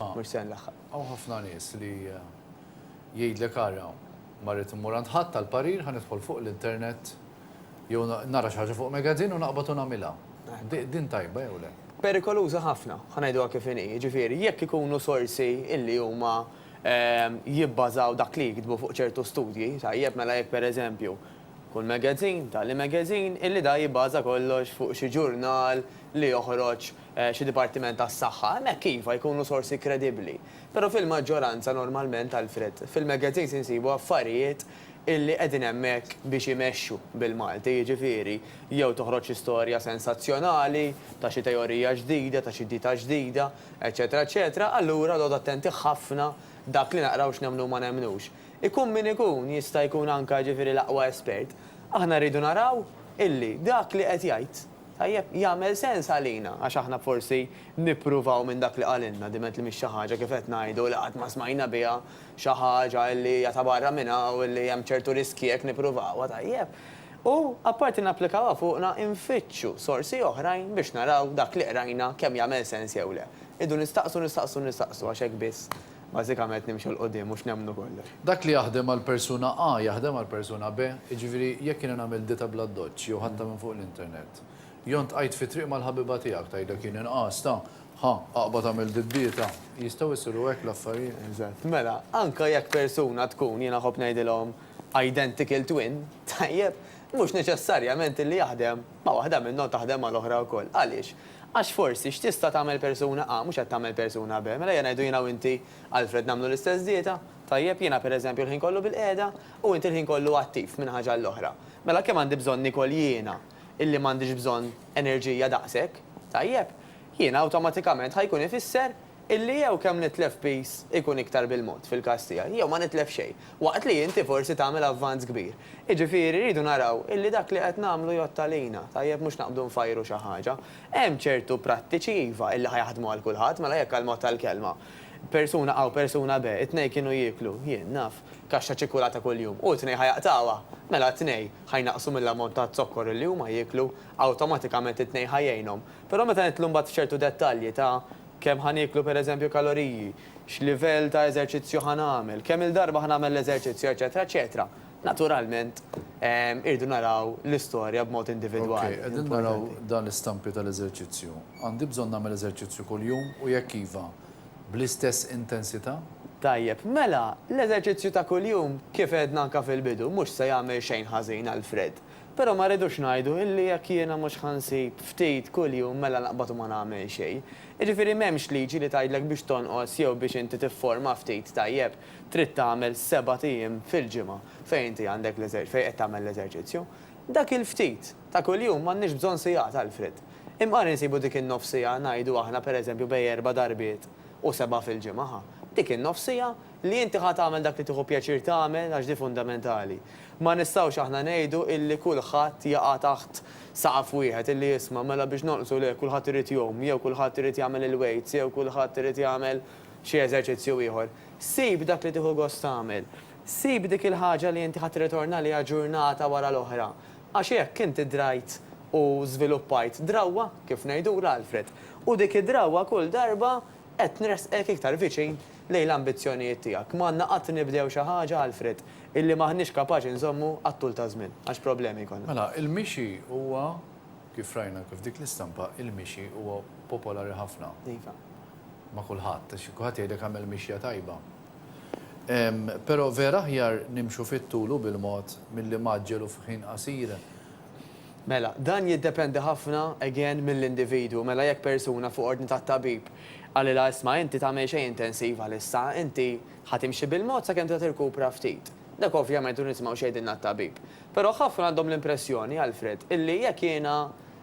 Mhux se nlaħħaq. Hawn ħafna nies li jgħidlek ara ma rrid immur għand ħadd għall-parir ħa nidħol fuq l-internet jew nara xi ħaġa fuq magazine u naqbad u nagħmilha. Din tajba jew le? Perikoluża ħafna, ħa ngħiduha kif inhi. Jiġifieri jekk ikunu sorsi illi huma jibbażaw dak li jiktbu fuq ċertu studji, tajjeb, mela jekk pereżempju kull magazine, tali magazine, illi dan jibbaża kollox fuq xi ġurnal li joħroġ Xi dipartiment tas-saħħa, hemmhekk iva, jkunu sorsi kredibbli. Però fil-maġġoranza normalment, Alfred, fil-magazines insibu affarijiet illi qegħdin hemmhekk biex imexxu bil-Malti, jiġifieri, jew toħroġ istorja sensazzjonali ta' xi teorija ġdida, ta' xi dieta ġdida, eċċetera eċċetera, allura noqogħdu attenti ħafna dak li naqraw x'nemmnu u ma nemmnux. Ikun min ikun, jista' jkun anke jiġifieri l-aqwa espert, aħna rridu naraw illi dak li qed jgħid, Tajjeb, jagħmel sens għalina għax aħna forsi nippruvaw minn dak li qalilna diment li mhix xi ħaġa kif qed ngħidu li qatt ma smajna biha, xi ħaġa li hija ta' barra minn hawn li hemm ċertu riskji jekk nippruvawha, tajjeb. U, apparti napplikawha fuqna, infittxu sorsi oħrajn biex naraw dak li qrajna kemm jagħmel sens jew le. Irridu nistaqsu, nistaqsu, nistaqsu għax hekk biss Bażikament nimxu 'l quddiem mhux nemmnu kollox. Dak li jaħdem għal persuna A jaħdem għal persuna B. Jiġifieri jekk jiena nagħmel dieta bl-addoċċ jew ħadtha minn fuq l-internet. Jon tqajt fit-triq mal-ħabiba tiegħek tgħidlek jien inqas ta' ħa aqbad agħmel did-dieta. Jistgħu jsiru hekk l-affarijiet? Eżatt. Mela, anke jekk persuna tkun, jiena nħobb ngħidilhom, identical twin, tajjeb, mhux neċessarjament li jaħdem ma' waħda minnhom taħdem mal-oħra wkoll. Għaliex? Għax forsi, x'tista' tagħmel persuna A, mhux qed tagħmel persuna B. Mela ejja ngħidu jiena u inti, Alfred, nagħmlu l-istess dieta, tajjeb, jiena pereżempju l-ħin kollu bilqiegħda, u inti l-ħin kollu attiv, minn ħaġa għall-oħra. Mela kemm għandi bżonn niekol jiena, illi m'għandix bżonn enerġija daqshekk? Tajjeb. Jiena awtomatikament ħa jkun ifisser Illi jew kemm nitlef piece ikun iktar bil-mod fil-każ tiegħi, jew ma nitlef xejn, waqt li inti forsi tagħmel avvanz kbir. Jiġifieri rridu naraw illi dak li qed nagħmlu jgħodd għalina, tajjeb mhux naqbdu nfajru xi ħaġa. Hemm ċertu prattiċi iva illi ħa jaħdmu għal kulħadd, mela jekk għall-mod tal-kelma, persuna A u persuna B, it-tnejn kienu jieklu, jien naf, kaxxa ċikkulata kuljum, u t-tnejn ħa jaqtgħuha, mela t-tnejn ħa jnaqqsu mill-ammont ta' zokkor illi huma jieklu, awtomatikament it-tnejn ħa jgħinhom. Però meta nidħlu mbagħad f'ċertu dettalji ta' Kemm ħa nieklu pereżempju kaloriji, x'livell ta' eżerċizzju ħa nagħmel, kemm-il darba ħa nagħmel l-eżerċizzju, eċċetera, eċċetera, naturalment irridu naraw l-istorja b'mod individwali. Okej, qegħdin naraw dan l-istampi tal-eżerċizzju. Għandi bżonn nagħmel eżerċizzju kuljum u jekk iva, bl-istess intensità? Tajjeb, mela, l-eżerċizzju ta' kuljum, kif għedna anke fil-bidu, mhux se jagħmel xejn ħażin għal Fred. Però ma rridux ngħidu illi jekk jiena mhux ħa nsib ftit kuljum mela naqbad u ma nagħmel xejn. Jiġifieri m'hemmx liġi li tgħidlek biex tonqos jew biex inti tifforma ftit tajjeb trid tagħmel sebat ijiem fil-ġimgħa fejn inti għandek l-eżer fejn qed tagħmel l-eżerċizzju. Dak il-ftit ta' kuljum m'għandniex bżonn sigħat Alfred. Imqar insibu dik in-nofs siegħa ngħidu aħna pereżempju bej erba' darbiet u seba' fil-ġimgħa ħa. Dik in-nofs siegħa Li inti ħa tagħmel dak li tieħu pjaċir tagħmel għax di fundamentali. Ma nistgħux aħna ngħidu illi kulħadd jaqa' taħt saqaf wieħed illi isma' mela biex nonqsu le kulħadd irid jgħum jew kulħadd irid jagħmel il-weights jew kulħadd irid jagħmel xi eżerċizzju ieħor. Sib dak li tieħu gost tagħmel. Sib dik il-ħaġa li inti ħa tirritorna għaliha ġurnata wara l-oħra. Għax hekk inti drajt u żviluppajt drawwa, kif ngħidulha Alfred, u dik id-drawwa kull darba Qed nressqek iktar viċin lejn l-ambizzjonijiet tiegħek. M'għandna qatt nibdew xi ħaġa, Alfred, illi m'aħniex kapaċi nżommu għat-tul taż-żmien, għax problemi jkollna. Mela, il-mixi huwa, kif rajna anke f'dik l-istampa, il-mixi huwa popolari ħafna. Iva. Ma' kulħadd, għax kulħadd jgħidlek agħmel mixja tajba. Però vera aħjar nimxu fit-tul u bil-mod milli mgħaġġel u f'ħin qasir Mela, dan jiddependi ħafna, again, mill-individwu. Mela jekk persuna fuq ordni tat-tabib qalilha isma' inti tagħmel xejn intensiv għalissa, inti ħa timxi bil-mod sakemm tibda tirkupra ftit. Dak ovvjament irridu nisimgħu x'jgħidilna t-tabib. Però ħafna għandhom l-impressjoni, Alfred, illi jekk jiena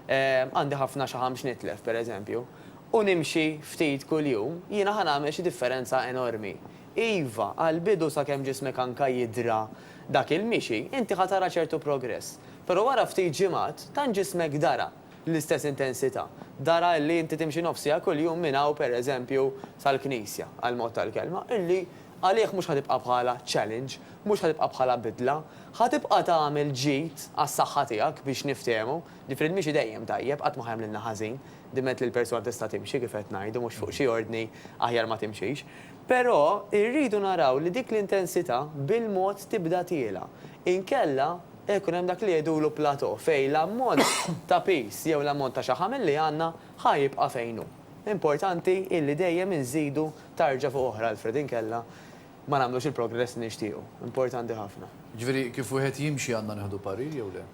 għandi ħafna xaħam x'nitlef, pereżempju, u nimxi ftit kuljum, jiena ħa nagħmel xi differenza enormi. Iva, għall-bidu sakemm ġismek anka jidhra dak il-mixi, inti ħa tara ċertu progress. Però wara ftit ġimgħat, tant ġismek dara l-istess intensità, dara illi inti timxi nofs siegħa kuljum minn hawn pereżempju sal-knisja, għall-mod tal-kelma, illi għalih mhux ħa tibqa' bħala challenge, mhux ħa tibqa' bħala bidla. Ħa tibqa' tagħmel ġid għas-saħħa tiegħek biex niftehmu. Ġifieri l-mixi dejjem tajjeb, qatt ma ħa jagħmlilna ħażin, diment li l-persuna tista' timxi kif qed ngħidu, mhux fuq xi ordni aħjar ma timxix. Però rridu naraw li dik l-intensità bil-mod tibda tiela'. Inkella qed ikun hemm dak li jgħidulu plateau fejn l-ammont ta' piż jew l-ammont ta' xaħam li għandna ħa jibqa' fejn hu. Importanti illi dejjem inżidu tarġa fuq oħra, Alfred, inkella ma nagħmlux il-progress li nixtiequ. Importanti ħafna. Jiġifieri kif wieħed jimxi għandna nieħdu parir jew le?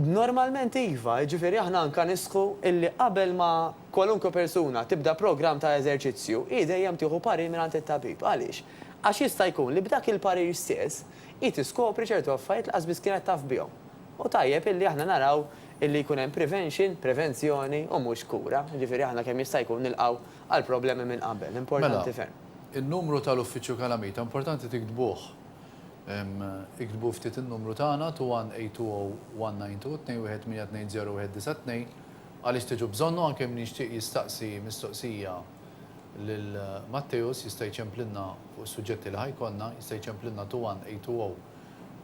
Normalment iva, jiġifieri aħna anke nisħqu illi qabel ma. Kwalunkwe persuna tibda programm ta' eżerċizzju, hi dejjem tieħu parir mingħand it-tabib. Għaliex? Għax jista' jkun li b'dak il-parir stess, hi tiskopri ċertu affarijiet li lanqas biss kienet taf bihom. U tajjeb illi aħna naraw illi jkun hemm prevention, prevenzjoni, u mhux kura. Jiġifieri aħna kemm jista' jkun nilqgħu għall-problemi minn qabel. Importanti ferm. Mela, in-numru tal-Uffiċċju Kalamita importanti tiktbuh. Iktbu ftit in-numru tagħna 2182192 218201992. Għaliex tiġu bżonnu anke min jixtieq jistaqsi mistoqsija lil Matteus jista' jċemplilna fuq is-suġġetti li ħa jkollna, jista' jċemplilna to 1 820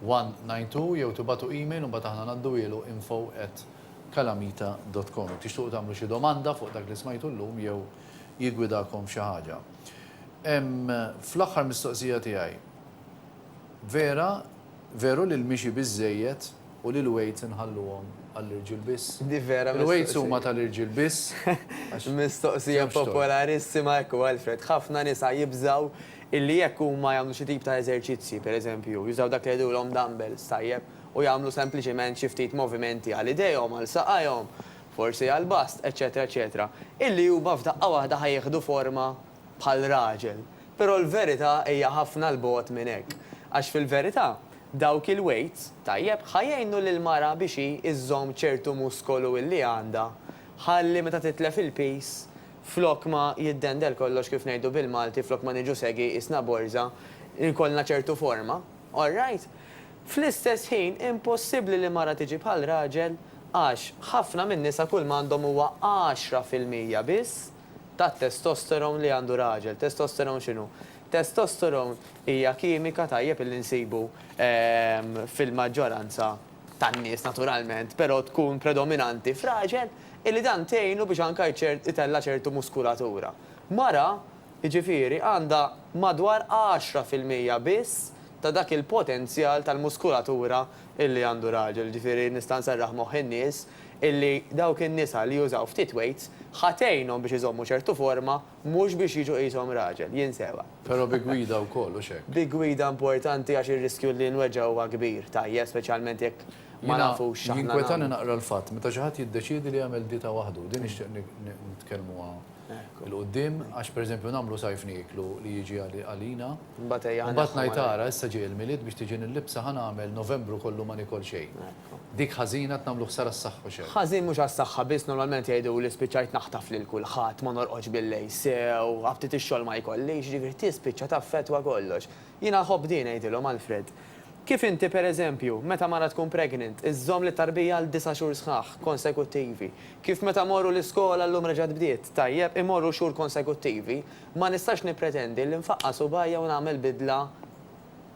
192 jew tibagħtu email u mbagħad aħna ngħadduhielu info at calamita dot com. Jekk tixtuqu tagħmlu xi domanda fuq dak li smajtu llum jew jiggwidakom f'xi ħaġa. Hemm fl-aħħar mistoqsija tiegħi. Vera, veru li l-mixi biżżejjed. U li l-weights inħalluhom għall-irġiel biss? Di vera mistoqsija. Il-weights huma tal-irġiel biss għax. Mistoqsija popolarissima, ekku Alfred. Ħafna nisa jibżgħu illi jekk huma jagħmlu xi tip ta' eżerċizzji, pereżempju, jużaw dak li jgħidulhom dumbbells, tajjeb, u jagħmlu sempliċement xi ftit movimenti għal idejhom, għal saqajhom, forsi għall-bust, eċċetera eċċetera, illi huma f'daqqa waħda ħa jieħdu forma bħal raġel. Però l-verità hija ħafna 'l bogħod minn hekk. Għax fil-verità, Dawk il-weights, tajjeb, ħa jgħinu lill-mara biex hi iżżomm ċertu muskolu illi għandha ħalli meta titlef il-piż flok ma jiddendel kollox kif ngħidu bil-Malti flok ma niġu segi qisna borża jkollna ċertu forma. All right? Fl-istess ħin impossibbli li mara tiġi bħal raġel għax ħafna min-nisa kull ma għandhom huwa għaxra fil-mija biss tat-testosterone li għandu raġel. Testosterone x'inhu? Testosterone hija kimika tajjeb li nsibu fil-maġġoranza tan-nies naturalment, però tkun predominanti f'raġel illi dan tgħinu biex anke itella' ċertu muskulatura. Mara, jiġifieri, għandha madwar għaxra fil-mija biss ta' dak il-potenzjal tal-muskulatura illi għandu raġel. Jiġifieri nista' nserraħ moħħ in-nies illi dawk in-nisa li jużaw ftit weights ħa tgħinhom biex iżommu ċertu forma mhux biex jiġu qishom raġel, jinsewha. Però bi gwida wkoll, hux hekk? Bi gwida importanti għax ir-riskju li nweġġgħu huwa kbir, tajjeb, speċjalment jekk ma nafux x'aħna nagħmlu. Jiena, jinkwetani naqra l-fatt meta xi ħadd jiddeċiedi li jagħmel dieta waħdu, din nixtieq nitkellmuha. 'il quddiem għax pereżempju nagħmlu sajf nieklu li jiġi għalina. Mbagħad ngħid ara issa ġej il-Milied biex tiġi nillibsha ħa nagħmel Novembru kollu ma nikol xejn. Dik ħażina qed nagħmlu ħsara s-saħħa u x'hekk. Ħażin mhux għas-saħħa biss normalment jgħiduli spiċċajt naħtaf lil kulħadd, ma norqodx billejl sew, ftit ix-xogħol ma jkollix, jiġifieri tispiċċa taffettwa kollox. Jiena nħobb din, għidilhom, Alfred. Kif inti, per eżempju, meta mara tkun pregnant, iżżomm lit-tarbija għal disa' xhur sħaħ, konsekuttivi. Kif meta mmorru l-iskola, llum reġgħet bdiet, tajjeb, immorru xhur konsekuttivi, ma nistax nippretendi li nfaqqa' subgħajja u nagħmel bidla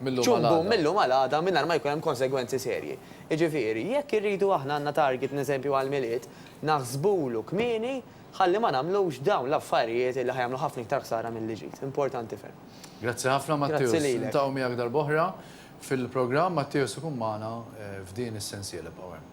ċ-ċumbu mil-lum għal għada mingħajr ma jkun hemm konsegwenzi serji. Jiġifieri, jekk irridu aħna għandna target, n'eżempju, għall-Milied, naħsbulu kmieni, Ħalli ma nagħmlux dawn l-affarijiet li ħa jagħmlu ħafna iktar ħsara milli ġid. Importanti ferm. Grazzi ħafna Matteus. Niltaqgħu miegħek darb'oħra fil-programm. Matteus ikun magħna f'din is-sensiela. Ibqgħu hemm.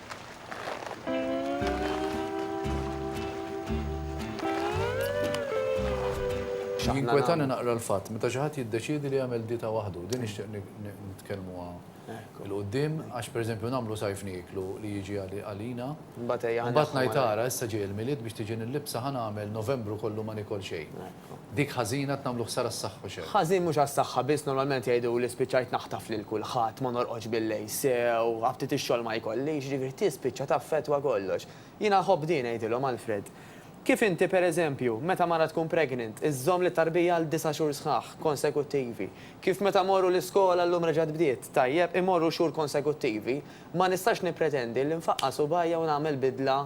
Jinkwetani naqra l-fatt, meta xi ħadd jiddeċiedi li jagħmel dieta waħdu, din nixtieq nitkellmuha l-qudiem, għax pereżempju nagħmlu sajf nieklu li jiġi għalina. Mbagħad ngħid ara issa ġej il-Milied biex tiġi nillibsa ħa nagħmel Novembru kollu ma nikol xejn. Dik ħażina qed nagħmlu ħsara s-saħħa u xejn. Ħażin mhux għas-saħħa biss normalment jgħiduli spiċċajt naħtaf lil kulħadd, ma norqodx billejl sew, ħabtiet ix-xogħol ma jkollix, jiġifieri tispiċċa taffettwa kollox. Jiena nħobb din ngħidilhom Alfred. Kif inti per eżempju, meta mara tkun pregnant, iżżomm lit-tarbija għal disa' xhur sħaħ, konsekuttivi. Kif meta morru l-iskola llum reġgħet bdiet, tajjeb, imorru xhur konsekuttivi, ma nistax nippretendi li nfaqqa' subgħajja u nagħmel bidla,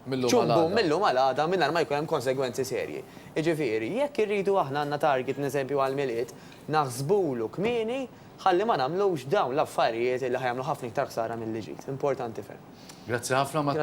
ċumbum mil-lum għal għada mingħajr ma jkun hemm konsegwenzi serji. Jiġifieri, jekk irridu aħna għandna target neżempju għall-Milied, naħsbulu kmieni ħalli ma nagħmlux dawn l-affarijiet li ħa jagħmlu ħafna iktar ħsara milli ġid. Importanti ferm. Grazzi ħafna Matteo.